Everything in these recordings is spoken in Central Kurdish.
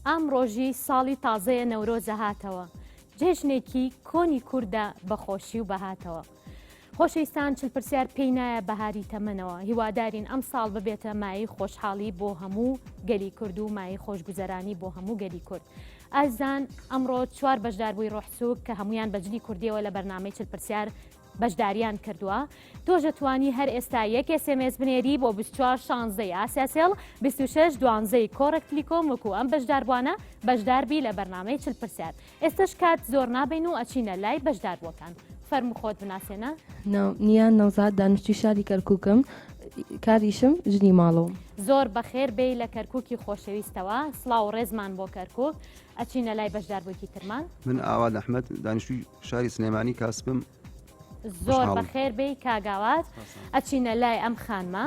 ئام ڕۆژی ساڵی تازەیە نەورۆزە هاتەوە جێژنێکی کۆنی کووردە بەخۆشی و بەهاتەوە. خۆشەویستان چل پرسیار پێی نایە بەهاری تەمەنەوە هیوادارین ئەم ساڵ ببێتە مایەی خۆشحاڵی بۆ هەموو گەلی کورد و مایەی خۆشگوزەرانی بۆ هەموو گەلی کورد ئازان ئەمڕۆ چوار بەشدار بووی ڕۆحسوک کە هەمویان بەجلی کوردیەوە لە بەرنمەی چل پرسیار بەشداریان کردووە تۆژە توانی هەر ئێستا یەک سمس بنێری بۆ 24 شانزەی ئاسیاسێڵ 26 دوانزەی کۆڕکتلیکۆم وەکو ئەم بەشداربووانە بەشداربی لە بەرنمەی چل پرسیار ئێستەش کات زۆر نابەین و ئەچینە لای بەشداربووەکان فەرمو خۆت بناسێنە نیان نەوزاد دانیشتی شاری کەرکووکم کاریشم ژنی ماڵەوە زۆر بەخێر بێی لە کەرکووکی خۆشەویستەوە سڵاو و ڕێزمان بۆ کەرکووک ئەچینە لای بەشداربووکی ترمان من ئاوات ئەحمد دانیشتوی شاری سلێمانی کاسبم زۆر خوشحاڵم. بەخێر بێی کاگاوات ئەچینە لای ئەم خانمە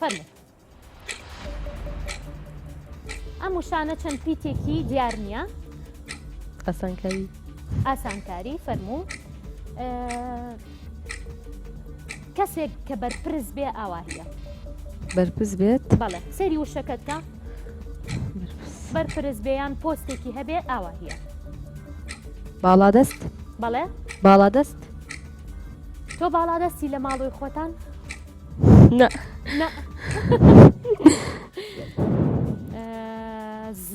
فەرموو. ئەم وشانە چەند پیتێکی دیار نییە ئاسانکاری ئاسانکاری فەرموو کەسێک کە بەرپرس بێ ئاواهە بەرپرس بێت بەڵێ سەری وشەکەتکە بەرپرس بێیان پۆستێکی هەبێ ئاواهە باڵادەست بەڵێ باڵادەست تۆ باڵادەستی لە ماڵۆی خۆتان نا نا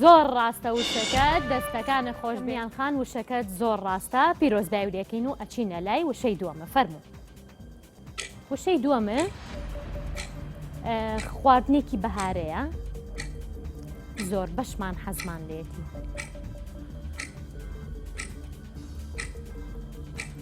زۆر ڕاستە وشەکە دەستەکانە خۆش بیان خان وشەکەت زۆر ڕاستە پیرۆزدای و لەکەین و ئەچینە لای وشەی دووەمە فەرمو وشەی دووەمە خواردنێکی بەهارەیە زۆر بەشمان حەزمان لێتی.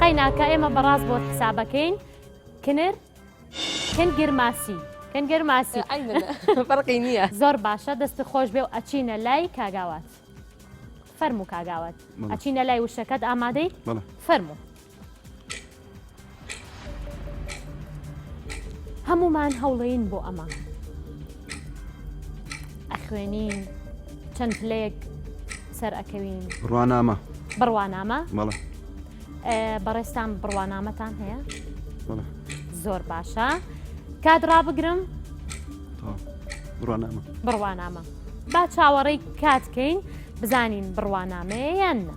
قەیناکە ئێمە بەڕاست بۆت حسابەکەین کنر کنگر ماسی کنگر ماسی فەرقی نییە زۆر باشە دەست خۆش بێ و ئەچینە لای کاگاوات فەرموو کاگاوات ئەچینە لای وشەکەت ئامادەی فەرموو هەموومان هەوڵێین بۆ ئەمە ئەخوێنین چەند پلەیەک سەر ئەکەوین ڕوانامە بڕوانامە مەڵە بەڕێستان بڕوانامەتان هەیە زۆر باشە کات ڕابگرم بڕوانامە بڕوانامە با چاوەڕێی کاتکەین بزانین بڕوانامەیە یان نە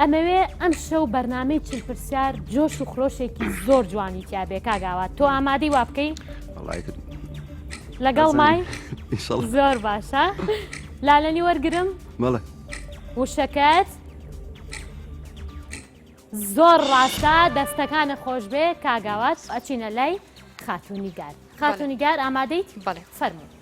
ئەمەوێ ئەم شەو بەرنمەی چل پرسیار جۆش و خرۆشێکی زۆر جوانی تیاابێ کاگاوات تۆ ئامادەی وا بکەین لەگەڵ مای زۆر باشە لالەنی وەرگرم مەڵێ وشەکەت زۆر ڕاستە دەستەکانە خۆش بێ کاگاوات ئەچینە لای خاتونی گار خاتونی گار ئامادەیت بەڵێ فەرموو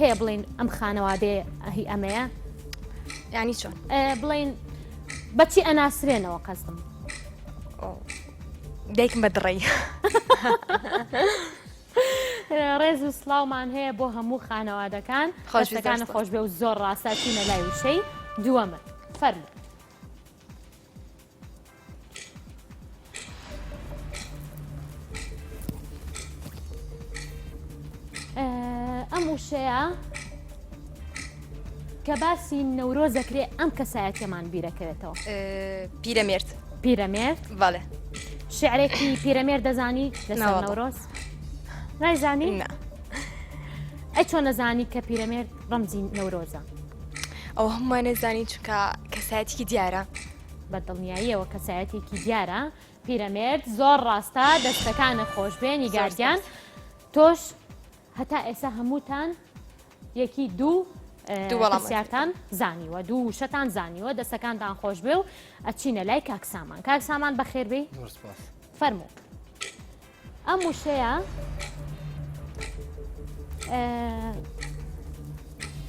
هەیە بڵین ئەم خانەوادێ هی ئەمەیە ینی چۆن بڵین بەچی ئەناسرێنەوە قەزم دایکم بە دڕی ڕێز و سلااومان هەیە بۆ هەموو خانەوادەکان خۆشەکان خۆش بێ و زۆر ڕاستاچینە لای وشەی دووەمە فەرمو ئەم وشەیە کە باسی نەورۆز دەکرێ ئەم کەسایەتەمان بیرەکەوێتەوە پیرەمێرد پیرەمێرد بەڵێ شعرێکی پیرەمێر دەزانی لەسەر نەورۆز نایزانی ئە چۆن نەزانی کە پیرەمێرد ڕەمزی نەورۆزە. ئەوە هەمومان نەزانین چونکە کەسایەتیکی دیارە. بە دڵنیاییەوە کەسایەتێکی دیارە پیرەمێرد زۆر ڕاستە دەستەکانە خۆشبێ نیگارگیان تۆش هەتا ئێسا هەمووتان یەکی دوو دووەڵامسیارتان زانیوە دوو وشەتان زانیوە دەستەکانتان خۆش بێ و ئەچینە لای کاکسامان کاکسامان بەخێربی فەرموو ئەم وشەیە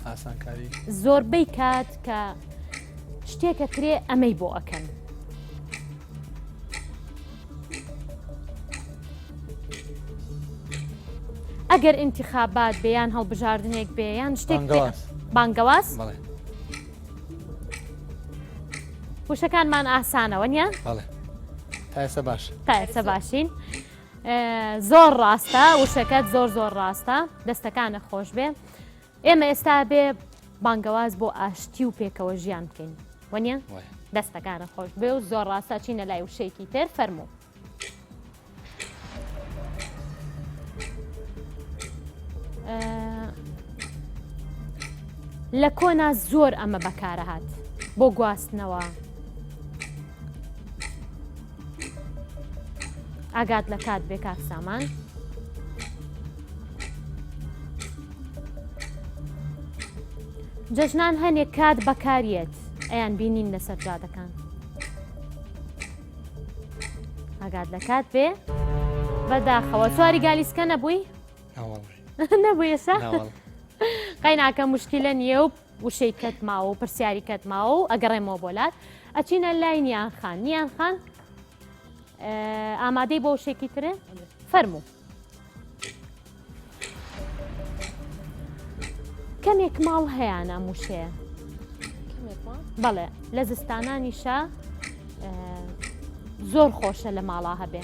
ئاسانکاری زۆربەی کات کە شتێکە کرێ ئەمەی بۆ ئەکەن ئەگەر انتخابات بێیان هەڵبژاردنێک بێیان شتێک بانگەواز وشەکانمان ئاسانەوە نیە؟ تا ئێستا باش تا ئێستا باشین زۆر ڕاستە وشەکەت زۆر زۆر ڕاستە دەستەکانە خۆش بێ ئێمە ئێستا بێ بانگەواز بۆ ئاشتی و پێکەوە ژیان بکەین وەنیە دەستەکانە خۆش بێ و زۆر ڕاستە چینە لای وشەیەکی تر فەرموو لە کۆنا زۆر ئەمە بەکارەهات بۆ گواستنەوە ئاگات لە کات بێ کاک سامان. جەژنان هەنێک کات بەکاریت ئەیان بینین لەسەر جادەکان. ئاگات لە کات بێ بەداخەوە چواری گالیسکە نەبووی نەبوو ئێسا قەیناکە مشکلە نییە و وشەی کەت ماوە و پرسیاری کەت ماوە و ئەگەڕێمەوە بۆ لات ئەچینە لای نیان خان نیان خان ئامادەی بۆ شێکی ترێ فەرموو کەمێک ماڵ هەیەیان ئەم وشەیە بەڵێ لە زستانانیشە زۆر خۆشە لە ماڵا هەبێ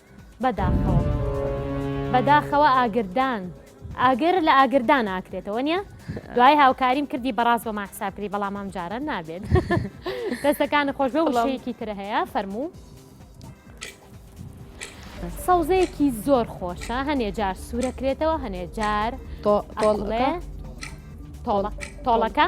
بەداخەوە بەداخەوە ئاگردان. ئاگر لە ئاگردان ئاکرێتەوە نیە؟ دوای هاوکاریم کردی بەڕاست بۆمان حساب کردی بەڵام ئەم جارە نابێت دەستەکان خۆش بە وشەیەکی ترە هەیە فەرموو سەوزەیەکی زۆر خۆشە هەنێ جار سوورەکرێتەوە هەنێ جار تۆڵەکە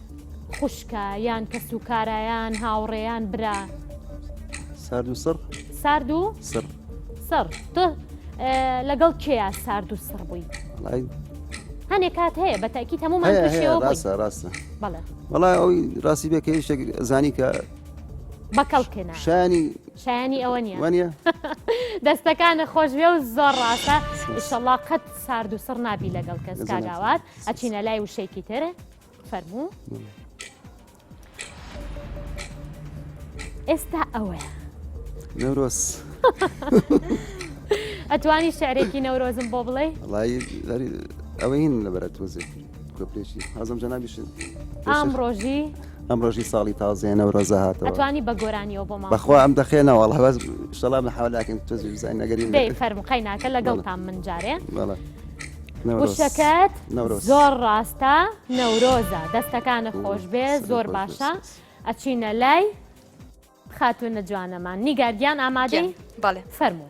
خوشکە یان کەس و کارایان هاوڕێیان برا سارد و سڕ سارد و سڕ سڕ تۆ لەگەڵ کێیا سارد و سڕ بووی هەنێ کات هەیە بە تاکی هەمومان ڕاستە ڕاستە بەڵای ئەوی ڕاستی بێ کە شتێک زانی کە بەکەڵکێنا شانی شایانی ئەوە نیە وانە دەستەکانە خۆشبێ و زۆر ڕاستە شەڵا قەت سارد و سڕ نابی لەگەڵ کەس کاگاوات ئەچینە لای وشەیەکی ترە فەرموو ئێستا ئەوەیە نەورۆز ئەتوانی شعرێکی نەورۆزم بۆ بڵێ ئەوە هین لە بەرە تۆزێ کۆپێکی حەزم جەنابیش ئام ڕۆژی ئەم ڕۆژی ساڵی تازێنە و ڕزە هاتەوە توانی بە گۆرانیەوە بۆ بەخوا ئەم دەخێنەوە هەواز شڵام لە حالاکن تۆزی بزانین نەگەری فەرمقای ناکە لەگەڵتان من جارێ. وشەکەت زۆر ڕاستە نەورۆزە دەستەکانە خۆشبێ زۆر باشە ئەچینە لای خاتونە جوانەمان نیگارگیان ئامادەی بەڵێ فەرموو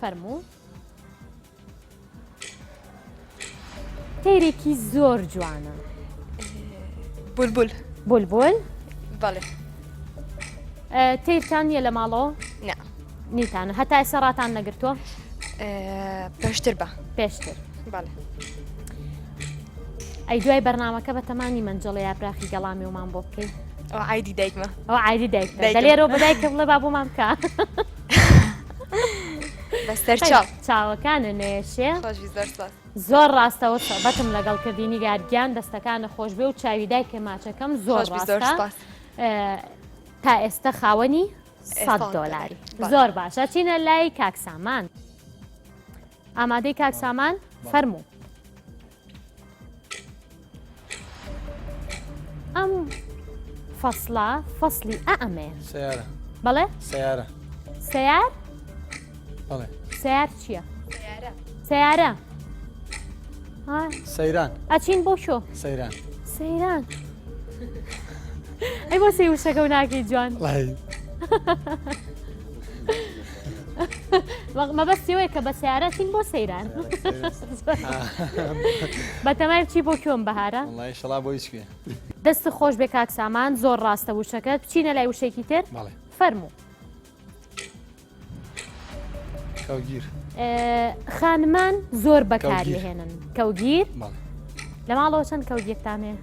فەرموو. تەیرێکی زۆر جوانە بولبول بولبول بەڵێ تەیرتان نیە لە ماڵەوە نیتانە هەتا ئێستا ڕاتان نەگرتووە پێشتر بە پێشتر بەڵێ ئەی دوای بەرنمەکە بە تەمانی منجڵە یابراخی گەڵامی ومان بۆ بکەیت ئەو عیدی دایکمە ئەو عیدی دایک لێرەوە بەدایکم لە با بۆمان بکە. بەسەر چاوەکانە نێشێ زۆر ڕاستەوە بەتم لەگەڵ کردی نیگارگیان دەستەکانە خۆشبێ و چاوی دایکە ماچەکەم زۆر تا ئێستا خاوەنی دۆلاری زۆر باشە چینە لای کاکسامان ئامادەی کاک سامان فەرموو ئەم فەصلە فەصلی ئەمێ سیارە بەڵێ سیارە سیار بەڵێ سیار چییە سیارە سەیران ئەچین بۆ شۆ سەیران سەیران ئەی بۆ سێ وشەکە و ناکەی جوان مەبەستی وەیە کە بە سیارە چین بۆ سەیران بەتەمای چی بۆ کوێم بەهارە شڵا بۆ هیچ دەست خۆش بێ کاک سامان زۆر ڕاستە وشەکەت بچینە لای وشێکی تر فەرموو خانمان زۆر بەکاری هێنن کەوگیر لە ماڵەوە چەند کەوگیرتانێ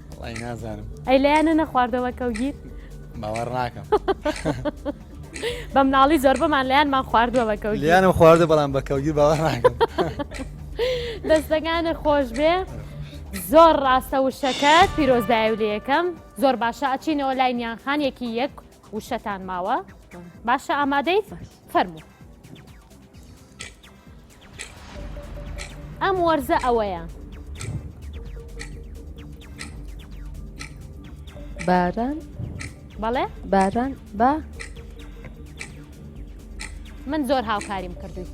نازانم ئەی لایەنە نەخواردەوە کەوگیر باوەڕ ناکەم بە مناڵی زۆربەمان لایەنمان خواردووە بە کەوت لیانم خواردە بەڵام بە کەوگیر باوە دەستەکانە خۆش بێ زۆر ڕاستە وشەکە پیرۆزدای و لە یەکەم زۆر باشە ئەچینەوە لای نیانخان یەکی یەک وشەتان ماوە باشە ئامادەیت فەرموو. ئەم وەرزە ئەوەیە. باران بەڵێ باران بە من زۆر هاوکاریم کردووی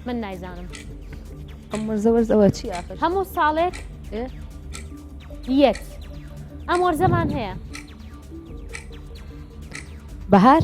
من نایزانم ئەم وەرزە وەرز ئەوە چی ئاخر هەموو ساڵێک ئێ؟ یەت ئەم وەرزەمان هەیە بەهار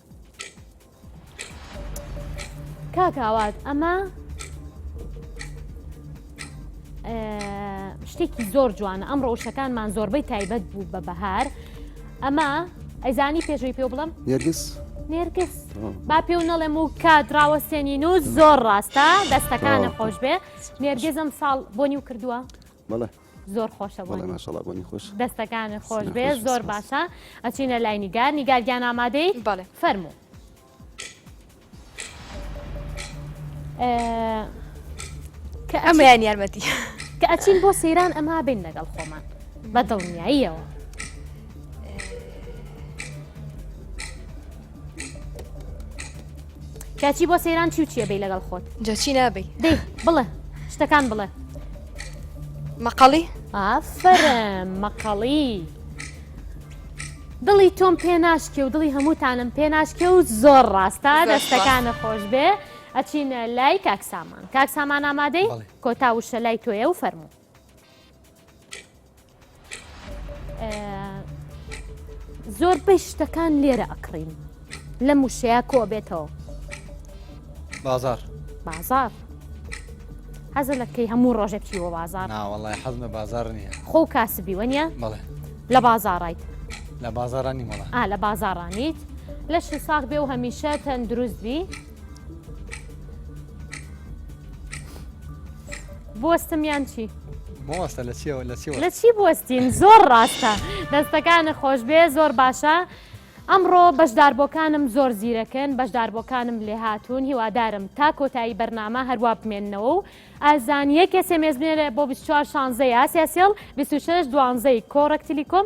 کاک ئاوات ئەمە شتێکی زۆر جوانە ئەم ڕەوشەکانمان زۆربەی تایبەت بوو بە بەهار ئەمە ئەزانی پێشوی پێ بڵم نێرگس نێرگس با پێ و نەڵێم و کات ڕاوەسێنین و زۆر ڕاستە دەستەکانە خۆش بێ نێرگزم ساڵ بۆنی و کردووە زۆر خۆشە بۆ ماشەڵا بۆنی خۆش دەستەکان خۆش بێ زۆر باشە ئەچینە لای نیگار نیگارگیان ئامادەی بەڵێ فەرمو کە ئەمەیان یارمەتی کە ئەچین بۆ سەیران ئەما بین لەگەڵ خۆمان بە دڵنیاییەوە کاچی بۆ سەیران چی و چیە بی لەگەڵ خۆت جاچی نابی دەی بڵێ شتەکان بڵێ مەقەڵی ئافرم مەقەڵی دڵی تۆم پێ ناشکێ و دڵی هەمووتانم پێ ناشکێ و زۆر ڕاستە دەستەکانە خۆش بێ ئەچین لای کاکسامان کاکسامان ئامادەی کۆتا وشە لای تۆیە و فەرموو زۆر بەی شتەکان لێرە ئەکڕین لە موشەیە کۆ بێتەوە بازار بازار حەزە لەکەی هەموو ڕۆژە بچیوە بازار ناوەڵی حەزمە بازار نییە خۆ کاسبی وەنیە بڵێ لە بازاڕیت لە بازارانی مەڵە لە بازاڕانیت لەش ساخ بێ و هەمیشە تەندروست بی بستم یان چی؟ بۆستە لە چیەوە لە چیەوە لە چی بستین زۆر ڕاستە دەستەکانە خۆش بێ زۆر باشە ئەمڕۆ بەشداربووەکانم زۆر زیرەکەن بەشداربووەکانم لێ هاتوون هیوادارم تا کۆتایی بەرنامە هەروە بمێنەوە و ئازان یەکێ سێمێزمێرە بۆ 24 شانزە یاسیاسیل 26 دوانزەی کۆڕکتیلیکۆم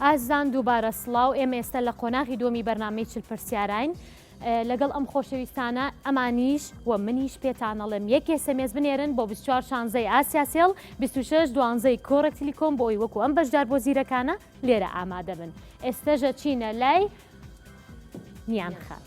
ئازیزان دووبارە سڵاو ئێمە ئێستا لە قۆناغی دووەمی بەرنامەی چل پرسیاراین لەگەڵ ئەم خۆشەویستانە ئەمانیش و منیش پێتانەڵێم یەک ئێسمێز بنێرن بۆ 24 شانزەی ئاسیاسێڵ 26 دوانزەی کۆڕە تلیکۆم بۆ ئەوی وەکو ئەم بەشدار بۆ زیرەکانە لێرە ئامادە بن ئێستەژە چینە لای نیان خان.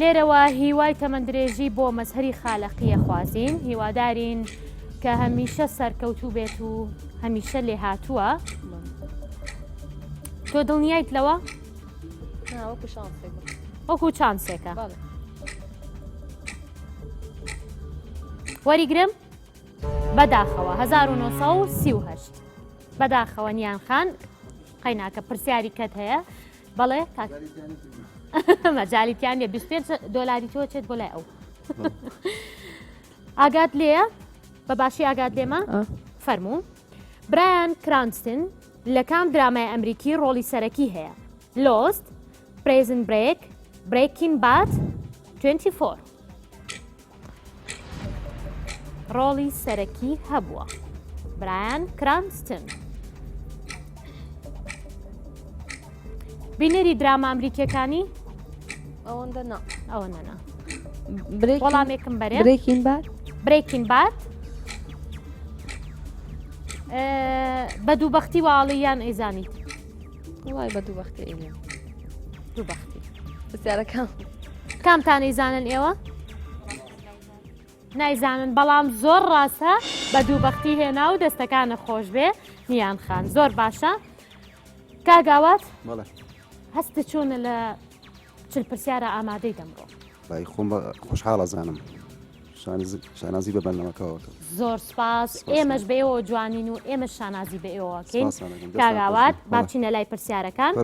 لێرەوە هیوای تەمەندرێژی بۆ مەزهەری خالەقیە خوازین هیوادارین کە هەمیشە سەرکەوتوو بێت و هەمیشە لێ هاتووە تۆ دڵنیایت لەوە وەکو چانسێکە وەریگرم بەداخەوە 1930 بەداخەوە نیان خان قەیناکە پرسیاری کەت هەیە بەڵێ کاک مەجالیتیان نیە 25 دۆلاری تۆ چێت بۆ لای ئەو ئاگات لێە بە باشی ئاگات لێمە فەرموو برایان کرانستن لە کام درامای ئەمریکی ڕۆڵی سەرەکی هەیە لۆست پرزن برێک برێکین بات 24 ڕۆڵی سەرەکی هەبووە برایان کرانستن بینەری دراما ئەمریکیەکانی ئەوەندە نا ئەوە نەنا وەڵامێکم بەرێ برێکین بات برێکین بات بە دووبختی واڵی یان ئەیزانیت وڵای بە دوو بەختی ئێمە دوو بەختی پرسیارەکەم کامتانەی زانن ئێوە؟ نایزانن بەڵام زۆر ڕاستە بە دوو بەختی هێنا و دەستەکانە خۆش بێ نیان خان زۆر باشە کاگاوات هەست چۆنە لە چل پرسیارە ئامادەی دەمڕۆ بای خۆم خۆشحاڵە زانم شانازی بە بەرنەمەکەەوە کرد زۆر سپاس ئێمەش بەەوە جوانین و ئێمە شانازی بە ئێوەکەین کاگاوات باچینە لای پرسیارەکان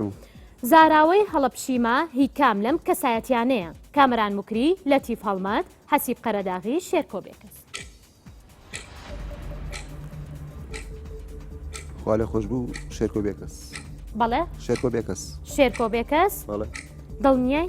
زاراوەی هەڵەپشیمە هی کام لەم کەسایەتیانەیە کامران مکری لە تیف هەڵمەت حەسیب قەرەداغی شێرکۆ بێکەس خوا لە خۆش بوو شێرکۆ بێکەس بەڵێ شێرکۆ بێکەس شێرکۆ بێکەس دڵنیای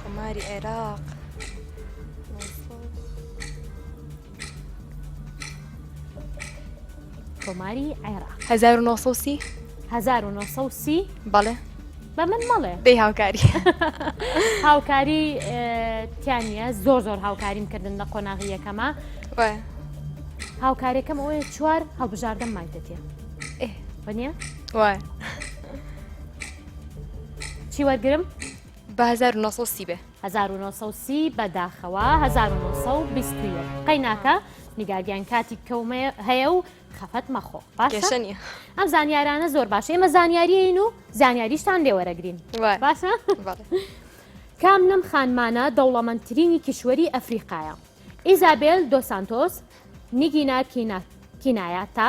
کۆماری عێراق کۆماری عێراق 1930 1930 بەڵێ بە من مەڵێ بێ هاوکاری هاوکاری تیانە زۆر زۆر هاوکاریم کردن لە قۆناغی یەکەمە هاوکارەکەم ئەوەیە چوار هەڵبژاردەم مایتەتێ بەە وایە چی وەرگرم؟ بە 1930 بێ 1930 بەداخەوە 1920 قەیناکە نیگاگیان کاتی کەومە هەیە و خەفەت مەخۆ باشە ئەم زانیارانە زۆر باش ئێمە زانیاریین و زانیاریشتان لێوەرەگرین باشە کام لەم خانمانە دەوڵەمەندترینی کیشوەری ئەفریقایە ئیزابێل دۆسانتۆس نیگینا کینایە تا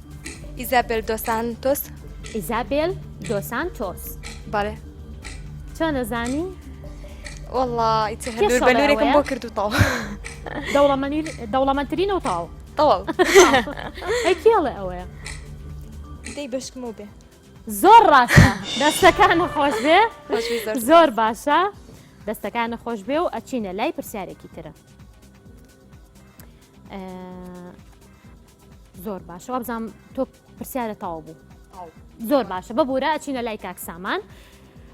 ئیزابێل دۆ سانتۆس. ئیزابێل دۆ سانتۆس. بەڵێ. چۆن ئەزانی؟ وەڵا ئیتر هەلور کێ بەلورێکم سەڵێوەیە؟ بۆ کرد و تەواو. دەوڵەمەنیر دەوڵەمەندترینە و تەواو. تەواو. ئەی کێ ئەڵێ ئەوەیە؟ دەی بەشکمەوە بێ. زۆر ڕاستە دەستەکانت خۆش بێ خۆشبی زۆر زۆر سپاس. باشە دەستەکانت خۆش بێ و ئەچینە لای پرسیارێکی ترە. ئە، زۆر باشە وابزانام تۆ پرسیارە تاو بوو زۆر باشە ببوورە ئەچینە لای کاک سامان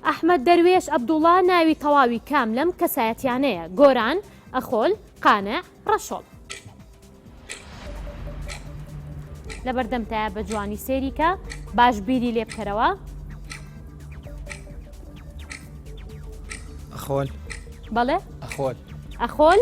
ئەحمد دەروێش عبدوڵا ناوی تەواوی کام لەم کەسایەتیانەیە گۆران ئەخۆل قانە ڕەشۆڵ لە بەردەمتایە بە جوانی سێریکە باش بیری لێ بکەرەوە ئەخۆل بەڵێ ئەخۆل ئەخۆل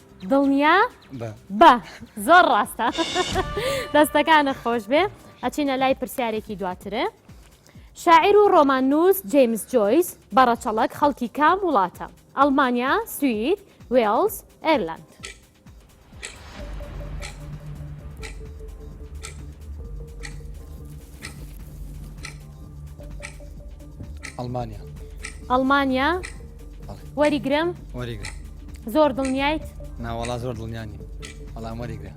دڵنیا بە زۆر ڕاستە دەستەکانە خۆش بێ ئەچینە لای پرسیارێکی دواترێ شاعیر و ڕۆمان نووس جیمس جۆیس بەڕەچەڵک خەڵکی کام وڵاتە ئەلمانیا سوید وێڵز ئێرلند ئەڵمانیا ئەڵمانیا وەریگرم وەریگرە زۆر دڵنیایت ناوەڵا زۆر دڵنیانی بەڵام وەریگرە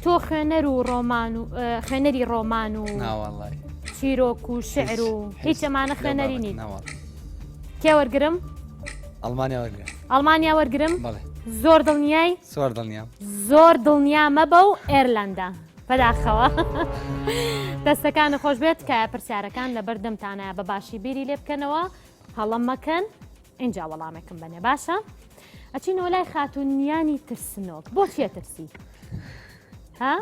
تۆ خوێنەر و ڕۆمان و خوێنەری ڕۆمان و ناوەڵی چیرۆک و شعر و هیچ ئەمانە خوێنەری نین کێ وەرگرم ئەڵمانیا وەرگرە ئەڵمانیا وەرگرم بەڵێ زۆر دڵنیای زۆر دڵنیا زۆر دڵنیا مەبە و ئێرلندا بەداخەوە دەستەکان خۆش بێت تکایە پرسیارەکان لە بەردەمتانە بە باشی بیری لێ بکەنەوە هەڵم مەکەن اینجا وەڵامێکم بنێ باشە ئەچینەوە لای خاتونیانی ترسنۆک بۆ چێ ترسی ها؟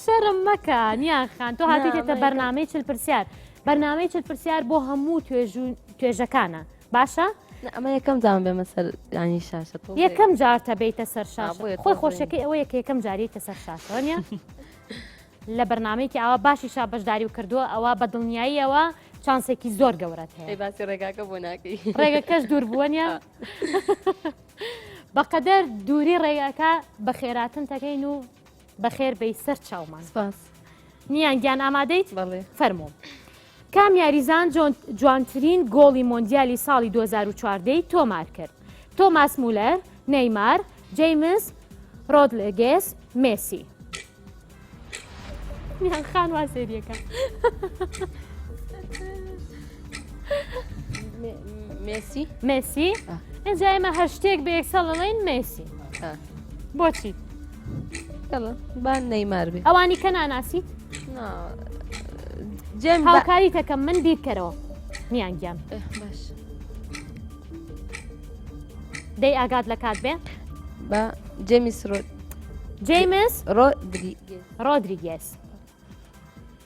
شەرم مەکە نیان خان تۆ هاتیتێتە بەرنمەی چل پرسیار بەرنمەی چل پرسیار بۆ هەموو توێژ و توێژەکانە باشە ئەمە یەکەم جام بێمە سەر ینی شاشە یەکەم جارتە بیتە سەر شاش خۆی خۆشەکەی ئەوە یەکە یەکەم جاریتە سەر شاشۆنیە لە بەرنمەیەکی ئاوا باشی شا بەشداری و کردووە ئەوە بە دڵنیاییەوە چانسێکی زۆر گەورەت هەیە باسی ڕێگاکە بۆ ناکەی ڕێگەکەش دوور بووەنە بەقەدەر دووری ڕێگاکە بە خێراتن تەکەین و بەخێر بێی سەر چاومان سپاس نیان گیان ئامادەیت بەڵێ فەرموو کام یاریزان جوانترین گۆڵی مۆندیالی ساڵی 2014 تۆمار کرد تۆماس مولەر نەیمار جەیمس ڕۆدلگێس مێسی نیان خان وا سێریەکە مێسی مێسی ئەجا ئێمە هەر شتێک بە یەکسەڵڵین مێسی بۆچی بان نەیمار بێ ئەوانی کە ناناسیت جێم هاوکاری تەکەم من بیرکەرەوە میان گیان باش دەی ئاگات لە کات بێ بە جێمیس ڕۆ جیمس ڕۆدریگێس ڕۆدریگێس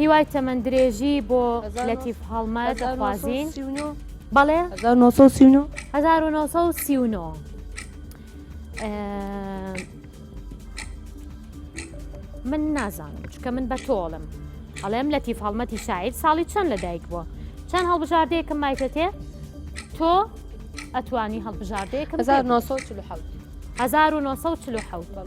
هیوای تەمەن درێژی بۆ لەتیف هەڵمەت دەخوازین بەڵێ 1939 من نازانم چکە من بە تۆڵم ئەڵێم لەتیف هەڵمەتی شاعیر ساڵی چەند لە دایک بووە چەند هەڵبژاردەیەکم مایتەتێ تۆ ئەتوانی هەڵبژاردەیەکم 1940 1940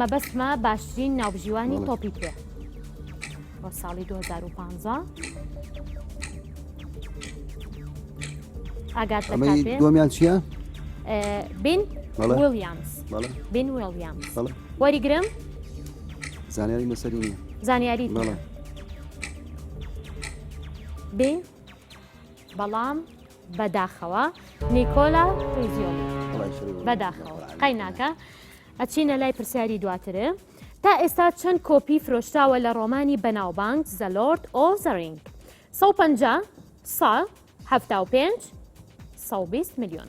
مەبەستمە باشترین ناوبژیوانی تۆپی پێ بۆ ساڵی 2015 ئاگات دومیان چییە؟ بین ویلیامز بین ویلیامز وەریگرم زانیاری مەسەری نیە زانیاری بین بەڵام بەداخەوە نیکۆلا فریزیۆلی بەداخەوە قەیناکە ئەچینە لای پرسیاری دواترێ تا ئێستا چەند کۆپی فرۆشتاوە لە ڕۆمانی بەناوبانگ زەلۆرد ئۆ زەرینگ 150 سا 75 120 میلیۆن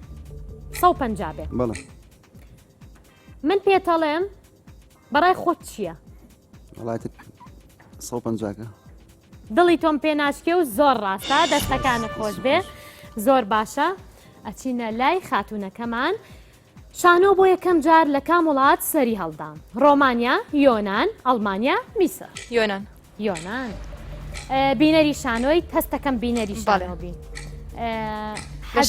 150 بێ بەڵێ من پێتەڵێم بەڕای خۆت چییە؟ وڵات 150کە دڵی تۆم پێ ناشکێ و زۆر ڕاستە دەستەکان خۆش بێ زۆر باشە ئەچینە لای خاتونەکەمان شانۆ بۆ یەکەم جار لە کام وڵات سەری هەڵدام ڕۆمانیا یۆناان ئەڵمانیا میسە یۆناان یۆنان بینەری شانۆی تەستەکەم بینەری شانۆبی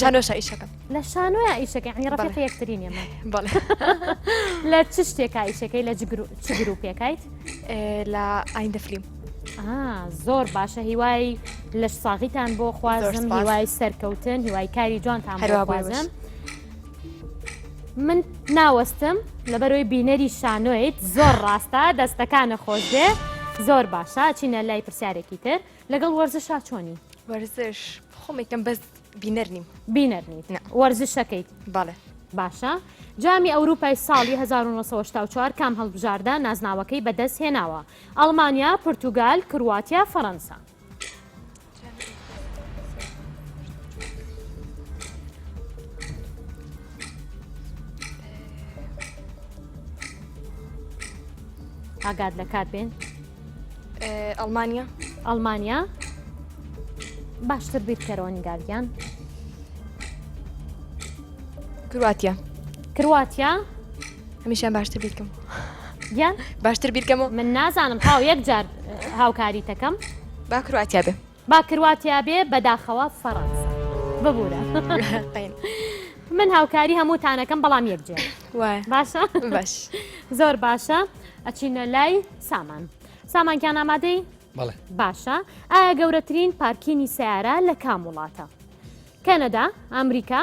شانۆشە ئیشەکە لە شانۆە ئیشەکە عنی ڕفق یەکترین ئێمە لە چ شتێکا ئیشەکەی لە گروپێکیت لە ئایندە فلیم زۆر باشە هیوای لە ساغیتان بۆ خوازم هیوای سەرکەوتن هیوای کاری جوانتان هەروابازم. من ناوەستم لە بەرەوەی بینەری شانۆیت زۆر ڕاستە دەستەکانە خۆشێ زۆر باشە چینە لای پرسیارێکی تر لەگەڵ وەرزشا چۆنی وەرزش خۆمێکم بەس بینەر نیم بینەر نیت وەرزشەکەیت بەڵێ باشە جامی ئەوروپای ساڵی 1994 کام هەڵبژاردە نازناوەکەی بەدەست هێناوە ئەڵمانیا پرتوگال کرواتیا فەەنسا ئاگاد لە کات بێن ئەڵمانیا ئەڵمانیا باشتر بیرکەرەوە نیگارگیان کرواتیا کرواتیا هەمیشان باشتر بیرکەم گیان باشتر بیرکەم و من نازانم تاو یەک جار هاوکاری تەکەم با کرواتیا بێ با کرواتیا بێ بەداخەوە فەڕەنسا ببوورە من هاوکاری هەمووتانەکەم بەڵام یەک جێ باشە باش زۆر باشە ئەچینە لای سامان سامانکیان ئامادەی بەڵێ باشە ئایا گەورەترین پارکینی سیارە لە کام وڵاتە کەنەدا ئەمریکا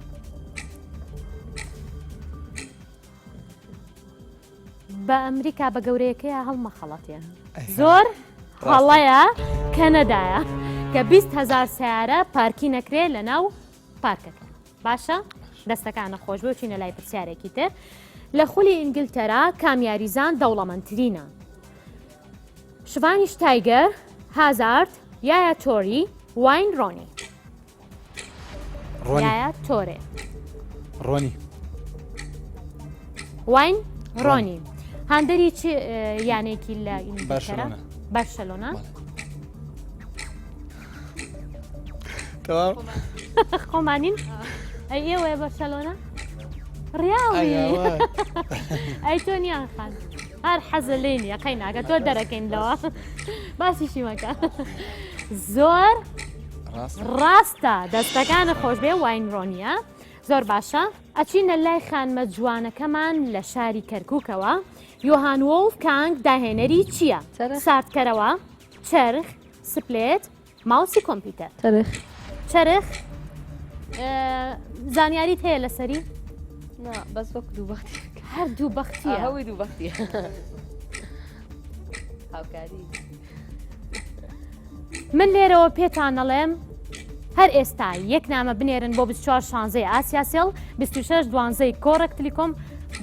بە ئەمریکا بە گەورەیەکەیە هەڵمەخەڵەتێ زۆر هەڵەیە کەنەدایە کە 20 هزار سیارە پارکی نەکرێ لە ناو پارکەکە باشە دەستەکانە خۆش بۆ چینە لای پرسیارێکی تر لە خولی ئینگلتەرا کامیاریزان دەوڵەمەندترینە شڤانیش تایگەر هازارد یاە تۆری واین ڕۆنی یایا تۆرێ ڕۆنی واین ڕۆنی هاندەری چ یانێکی لە بەرشلۆنە بەرشلۆنە تەواو خۆمانین ئەیەوەیە بەرشلۆنە ڕیاڵی ئەی تۆ نیان خان هەر حەزە لێ نیە قەی ناگە تۆ دەرەکەین لەوە باسیشی مەکە زۆر ڕاستە دەستەکانە خۆشبێ واینرۆنیە زۆر باشە ئەچینە لای خانمە جوانەکەمان لە شاری کەرکووکەوە یۆهان وڵ کانگ داهێنەری چییە ساردکەرەوە چرخ سپلێت ماوسی کۆمپیوتەر چرخ چرخ زانیاریت هەیە لەسەری بەس وەک دوو بەختی هەر دوو بەختی هەوی دوو بەختی هاوکاری من لێرەوە پێتانەڵێم هەر ئێستا یەک نامە بنێرن بۆ 24 شانزەی ئاسیاسیل 26 دوانزەی کۆڕک تلیکۆم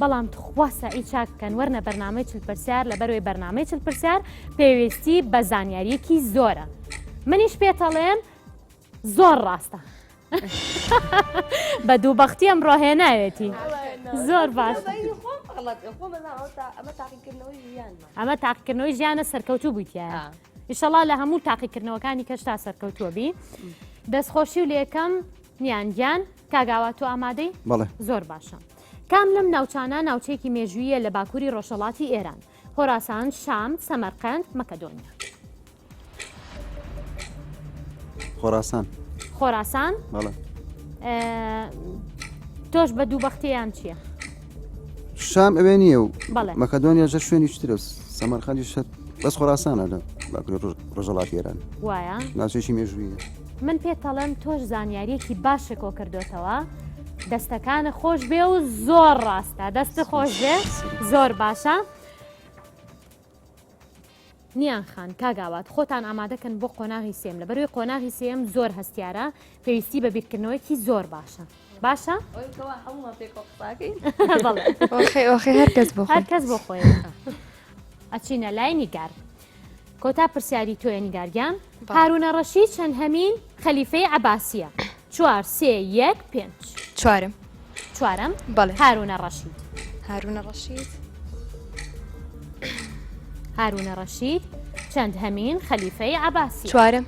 بەڵام تخوا سەعی چاک بکەن وەرنە بەرنمەی چل پرسیار لە بەروی بەرنمەی چل پرسیار پێویستی بە زانیاریەکی زۆرە منیش پێتەڵێم زۆر ڕاستە بە دوو بەختی ئەم ڕۆهێناوێتی زۆر باش ئەمە تاقیکردنەوەی ژیانە سەرکەوتوو بوویتە ئیشەڵا لە هەموو تاقیکردنەوەکانی کەشتا سەرکەوتووە بی دەستخۆشی و لەکەم نیان گیان کاگاوا تۆ ئامادەی بەڵێ زۆر باشە کام لەم ناوچانە ناوچێکی مێژویە لە باکووری ڕۆژەڵاتی ئێران خۆراسان شام سەمەرقند مەکەدۆنیا خۆراسان خۆراسان بەڵێ تۆش بە دوو بەختیان چییە؟ شام ئەوێ نییە و بەڵێ. مەکەدۆنیا ژە شوێنی شترە سەمەرخەندی شت بەس خۆراسانە لە باکوور ڕۆژ- ڕۆژەڵاتی ئێران وایە ناوچێکی مێژوویە من پێتەڵێم تۆش زانیاریەکی باشە کۆ کردوتەوە دەستەکانە خۆش بێ و زۆر ڕاستە دەستە خۆش بێ زۆر باشە نیان خان، کاک ئاوات خۆتان ئامادە کەن بۆ قۆناغی سێم لە بەروی قۆناغی سێم زۆر هەستیارە پێویستی بە بیرکردنەوەیەکی زۆر باشە باشە؟ هەرکەس بۆ خۆی ئەچینە لای نیگار کۆتا پرسیاری تۆێنی گارگیان هارونە ڕەشی چەند هەمین خەلیفەی عباسیە چوار سێ یەک پێنج. چوارم. چوارم بەڵێ هارونە ڕەشید هارونە ڕەشید هارونە ڕەشید چەند هەمین خەلیفەی عباسی چوارم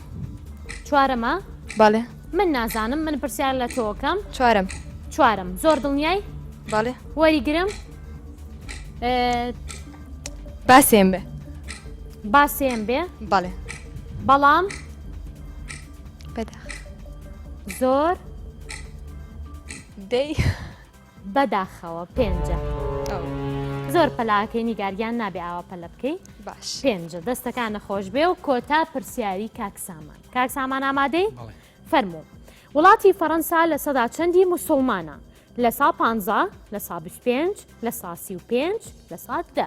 چوارەمە بەڵێ من نازانم من پرسیار لە تۆکەم چوارم چوارم زۆر دڵنیای بەڵێ وەریگرم باسێن بێ باسێن بێ بەڵێ بەڵام زۆر دەی بەداخەوە پێنجە زۆر پەلاکەی نیگاریان نابێ ئاوا پەلە بکەی باش پێنجە دەستەکان نەخۆش بێ و کۆتا پرسیاری کاکسامان کاکسامان ئامادەی فەرموو وڵاتی فەەنسا لە سەدا چەندی مسلمانە لە سا پ لە سا 25 لە ساسی و پێنج لە ساعت دە.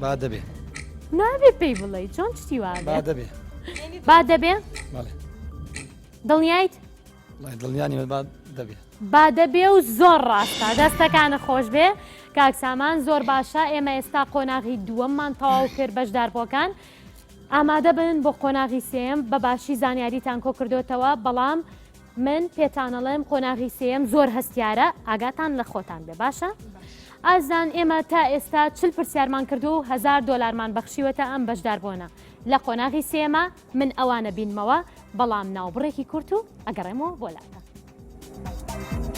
با دەبێ نابێ پێی بڵێ چۆن شتی وا با دەبێ با دەبێ بەڵێ دڵنیایت وڵای دڵنیانی من با دەبێ با دەبێ و زۆر ڕاستە دەستەکانە خۆش بێ کاک سامان زۆر باشە ئێمە ئێستا قۆناغی دووەممان تەواو کرد بەشداربووەکان ئامادە بن بۆ قۆناغی سێم بە باشی زانیاریتان کۆ کردوتەوە بەڵام من پێتانەڵێم قۆناغی سێم زۆر هەستیارە ئاگاتان لە خۆتان بێ باشە ئازان ئێمە تا ئێستا چل پرسیارمان کردو و هزار دۆلارمان بەخشیوەتە ئەم بەشدار بۆنە لە قۆناغی سێمە من ئەوانە بینمەوە بەڵام ناوبڕێکی کورت و ئەگەڕێمەوە بۆ لاتە.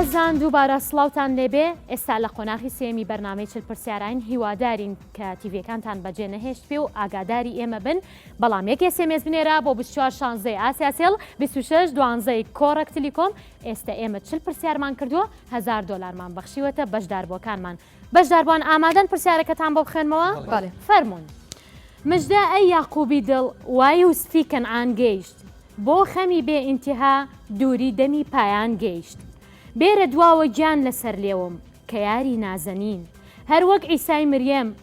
ئازان دووبارە سڵاوان لێبێ ئێستا لە قۆناغی سێمی بەرنمەی چل پرسیاراین هیوادارین کە تیڤەکانتان بەجێ نەهێشت پێ و ئاگاداری ئێمە بن بەڵام یەک ئێس ئێم ئێس بنێرە بۆ بیست و چوار شانزەی ئاسیا سێڵ بیست و شەش دوانزەی کۆڕەک تلیکۆم ئێستە ئێمە چل پرسیارمان کردووە هەزار دۆلارمان بەخشیوەتە بەشداربووەکانمان بەشداربووان ئامادەن پرسیارەکەتان بۆ بخوێنمەوە بەڵێ فەرموون مژدە ئەی یاقوبی دڵ وای و ستی کەنعان گەیشت بۆ خەمی بێ ئینتیها دووری دەمی پایان گەیشت بێرە دواوە گیان لەسەر لێوم کە یاری نازەنین هەر وەک عیسای مریەم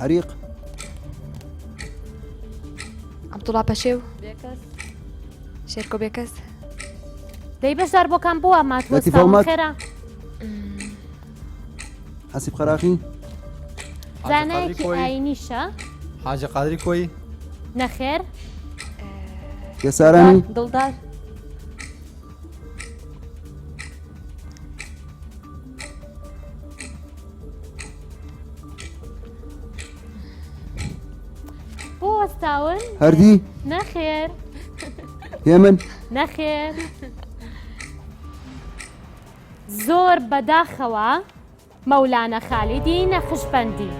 حریق عبدوڵا پەشێو شێرکۆ بێکەس دەی بەشدار بۆکان بووە ماتخێرا حەسیب قەراخی زانایەکی ئاینیشە حاجە قادری کۆی نەخێر یەسارانی دڵدار بۆ وەستاون هەردی نەخێر هێ من نەخێر زۆر بەداخەوە مەولانە خالیدی نەخشبندی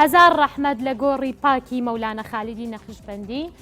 هەزار ڕەحمەت لە گۆڕی پاکی مەولانە خالیدی نەخشبندی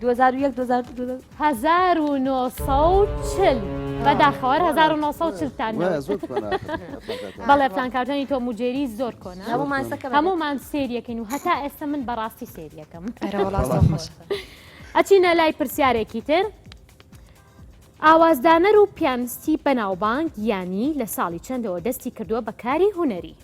2001 2002 1940 بەداخەوە 1940 تان نەوت. وای، زۆر کۆنە. بەڵێ پلانکارتۆنی تۆم و جێری زۆر کۆنە هەموو مانسەکە بەدەست. هەموومان سێریەکەین و هەتا ئێستا من بەڕاستی سێریەکەم ئەرە وەڵا زۆر بەڵام. خۆشە. ئەچینە لای پرسیارێکی تر ئاوازدانەر و پیانستی بەناوبانگ یانی لە ساڵی چەندەوە دەستی کردووە بە کاری هونەری؟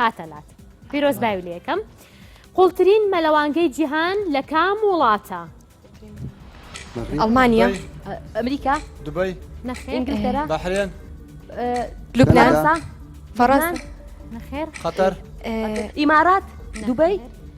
هاتە لات پیرۆز باوی لە یەکەم قوڵترین مەلەوانگەی جیهان لە کام وڵاتە ئەڵمانیا ئەمریکا دوبی نەخێنگلتەرا بەحرێن لوبنانسا فەڕەنسا نەخێر خەتەر ئیمارات دوبی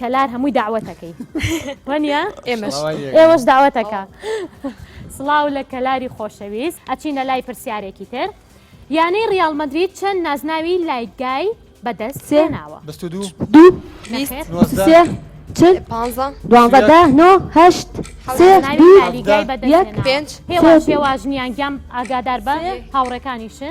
کەلار هەمووی داوەتەکەی وەنیە ئێمەش ئێوەش داوەتەکە سڵاو لە کەلاری خۆشەویست ئەچینە لای پرسیارێکی تر یانەی ریال مدرید چەند نازناوی لایگای بەدەست سێناوە پێواژنیان گیان ئاگادار بە هاوڕەکانیشە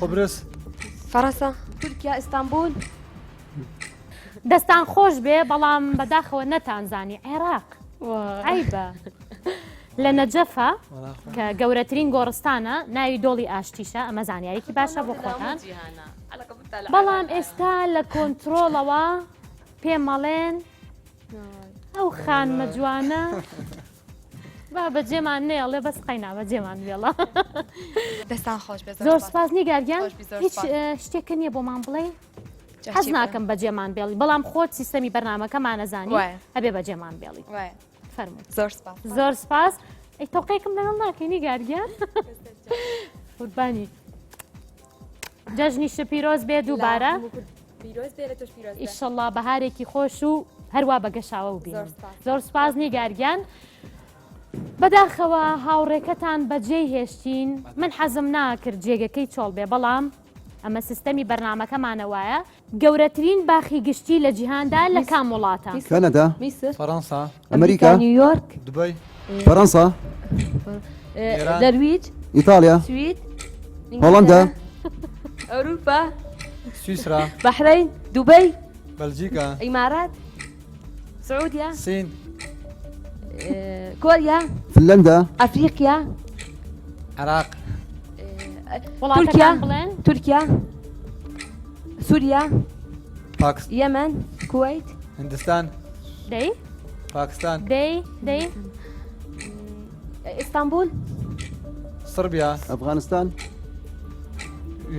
قبرس فەڕەسە تورکیا ئیستانبول دەستان خۆش بێ بەڵام بەداخەوە نەتانزانی عێراق عیبە لە نەجەفە کە گەورەترین گۆڕستانە ناوی دۆڵی ئاشتیشە ئەمە زانیارێکی باشە بۆ خۆتان بەڵام ئێستا لە کۆنتترۆڵەوە پێمەڵێن ئەو خانمە جوانە با بەجێمان نێڵێ بەس قەینا بەجێمان بێڵە دەستان خۆش بێ زۆر سپاس نیگارگیان هیچ شتێکە نییە بۆمان بڵێ حەز ناکەم بەجێمان بێڵی بەڵام خۆت سیستەمی بەرنمەکەمانەزانانی هەبێ بەجێمان بێڵی فەرمو زۆر زۆر سپاس ئەی تۆقێکم لەگەڵ ناکەی نیگارگیان قوربانی جەژنی شپیرۆز بێ دووبارە پیرۆز بێ لە تۆش پیرۆز بێ. ئیشەڵڵا بەهارێکی خۆش و هەروا بە گەشاوە و بینم زۆر سپاس نیگارگیان. بەداخەوە هاوڕێکەتان بەجێ هێشتین من حەزم ناکرد جێگەکەی چۆڵ بێ بەڵام ئەمە سیستەمی بەرنمەکەمانە وایە گەورەترین باخی گشتی لە جیهاندا لە کام وڵاتە؟ کەنەدا؟ فەرەنسا؟ ئەمریکا نیویۆرک دبی فەرەنسا دەرویج ئیتالیا سوید هۆڵندا ئەوروپا سویسرا بەحرین دوبی بەلجیکا ئیمارات سعودیا سین کۆریا فنلندا ئەفریقیا عراق تورکیا تورکیا سوریا پاک یەمەن کوەیت هندستان دەی پاکستان دەی دەی ئیستانبول صربیا ئەفغانستان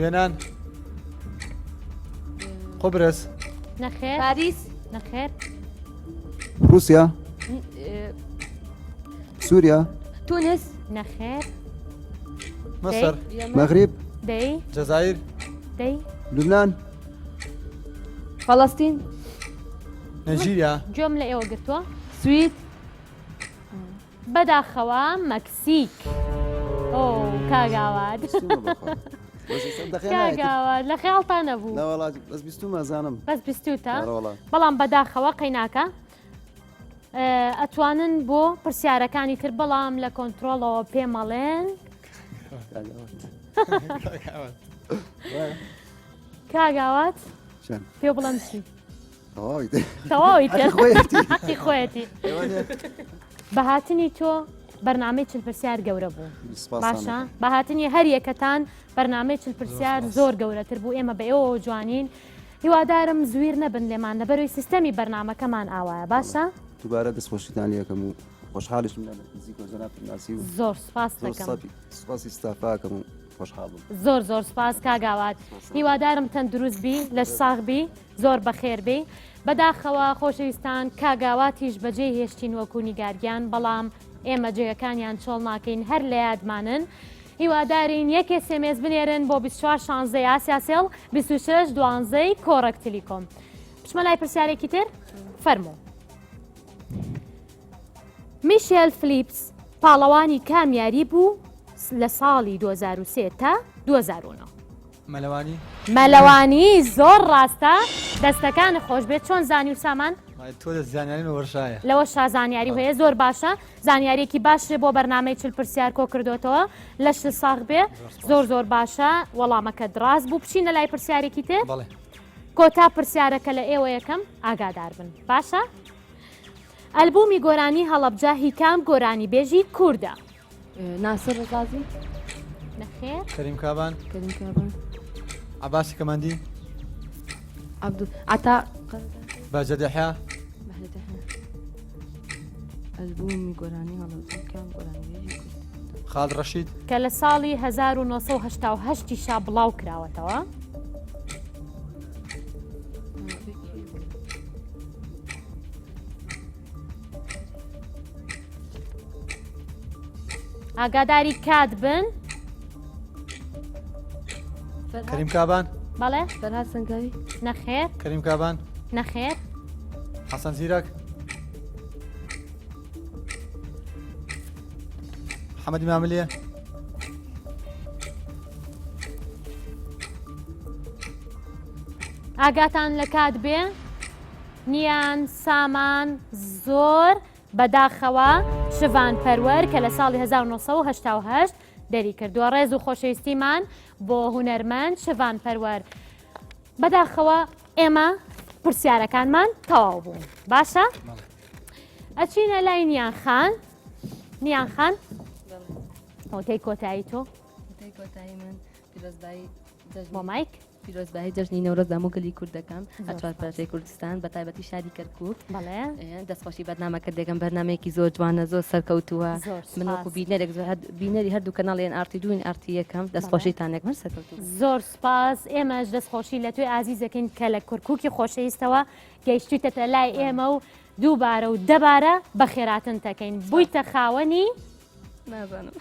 یۆنان قبرس نەخێر پاریس نەخێر رووسیا سووریا تونس نەخێر مصر مەغریب دەی جزائر دەی لبنان فەڵەستین نەجیریا گوێم لە ئێوە گرتووە سوید بەداخەوە مەکسیک ئۆ کاگاوات کاگاوات لە خیاڵتان نەبوو بەس بیستومە زانم بەس بیستوتە بەڵام بەداخەوە قەیناکە ئەتوانن بۆ پرسیارەکانی تر بەڵام لە کۆنتترۆڵەوە پێمەڵێن کاگاوات پێ بڵم چی تەواویتی خۆەتی بەهاتنی تۆ بەرنمەی چل پرسیار گەورە بوو باشە بەهاتنی هەر یەکەتان بەرنمەی چل پرسیار زۆر گەورەتر بوو ئێمە بە ئێوە جوانین هیوادارم زویر نەبن لێمان لەبەروی سیستەمی بەرنامەکەمان ئاوایە باشە. دوبارە دەست خۆشیتان یەکەم و خۆشحالیشم لە نزیکۆ جەنابتم ناسی و زۆر سپاس زۆر دەکەم سەپی سپاسی ستافاکەم و خۆشحاڵم زۆر زۆر سپاس کاگاوات هیوادارم تەندروست بی لە ساغ بی زۆر بەخێر بی بەداخەوە خۆشەویستان کاگاواتیش بەجێ هێشتین وەکو نیگارگیان بەڵام ئێمە جێگەکانیان چۆڵ ناکەین هەر لە یادمانن هیوادارین یەک اس ام اس بنێرن بۆ بیست و چوار شانزەی ئاسیا سێڵ بیست و شەش دوانزەی کۆڕەک تلیکۆم بچمە لای پرسیارێکی تر فەرموو میشێل فلیپس پاڵەوانی کام یاری بوو لە ساڵی 2023 تا 2009 مەلەوانی مەلەوانی زۆر ڕاستە دەستەکانت خۆشبێت چۆن زانی و سامان تۆ دە زانیاری لەوەشایە لەوە شازانیاری هەیە زۆر باشە زانیارێکی باش بۆ بەرنمەی چل پرسیار کۆ کردوتەوە لەش ساغ بێ زۆر زۆر باشە وەڵامەکە دراز بوو بچینە لای پرسیارێکی تێ بەڵێ کۆتا پرسیارەکە لە ئێوە یەکەم ئاگادار بن باشە ئەلبومی گۆرانی هەڵەبجە هیکام گۆرانی بێژی کووردە ناسر ڕزازی نەخێر کەریم کابان کەریم کابان عباسی کەماندی عبدو عطا باجەدەحیا ئەلبومی گۆرانی هەڵەکان گۆرانیێژی کورد خاڵ ڕەشید کە لە ساڵی 1970 شا بڵاو کراوەتەوە ئاگاداری کات بن کەریم کابان بەڵێ فەرهاد سەنگاوی نەخێر کەریم کابان نەخێر حەسەن زیرەک حەمەدی ماملێ ئاگاتان لە کات بێ نیان سامان زۆر بەداخەوە شڤان پەروەر کە لە ساڵی 1970 دەری کردووە ڕێز و خۆشەویستیمان بۆ هوەرمەند شڤان پەروەر بەداخەوە ئێمە پرسیارەکانمان تەواو بوو باشە ئەچینە لای نیان خان نیان خان هۆتەی کۆتایی تۆ مۆمایک پیرۆزبایی جەژنی نەورۆز دامو گەلی کوردەکەم ئەچوار پارچەی کوردستان بە تایبەتی شاری کەرکک بەڵێ دەستخۆشی بەنامە کە دێگەم بەرنمەیەکی زۆر جوانە زۆر سەرکەوتووە منۆکو بینەرێک زۆر بینەری هەردوو کەناڵێن ئارتی دوین ئارتی یەکەم دەستخۆشیتانێک من سەرکەوت زۆر سپاس ئێمەش دەستخۆشی لە توی ئازیزەکەین کە لە کورکوکی خۆشەویستەوە گەیشتویتە لای ئێمە و دووبارە و دەبارە بە خێراتن تەکەین بوویتە خاوەنی نازانم.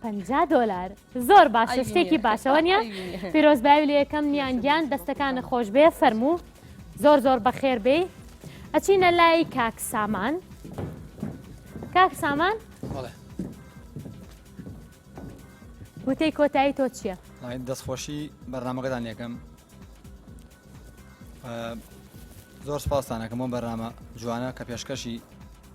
پ دلار زۆر باشە شتێکی باشەوە نیە پیرۆز باوی لە یەکەم نیان گیان دەستەکانە خۆش بێ فەرموو زۆر زۆر بەخێر بێ ئەچینە لای کاک سامان کاک سامان وتەی کۆتایی تۆ چییە؟ دەستخۆشی بەرنمەکەدان یەکەم زۆر سپاسانەکەم بۆ بەرنامە جوانە کە پێشکەشی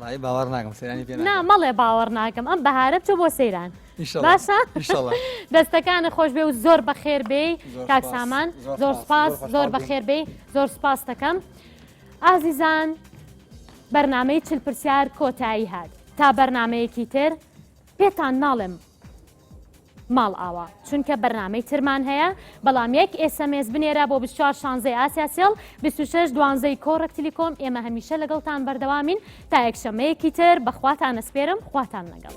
وڵی باوەڕ ناکەم سەیرانی پێ نا مەڵێ باوەڕ ناکەم ئەم بەهارە چۆ بۆ سەیران باشە دەستەکانە خۆش بێ و زۆر بەخێر بێ کاک سامان زۆر سپاس زۆر بەخێر بێ زۆر سپاس دەکەم ئازیزان بەرنمەی چل پرسیار کۆتایی هات تا بەرنمەیەکی تر پێتان ناڵێم ماڵئاوا چونکە بەرنامەی ترمان هەیە بەڵام یەک ئێسەمێس بنێرە بۆ 24 شانزەی ئاسیا سێڵ 26 دوانزەی کۆڕەک تلیکۆم ئێمە هەمیشە لەگەڵتان بەردەوامین تا یەکشەمەیەکی تر بەخواتان ئەسپێرم خواتان لەگەڵ.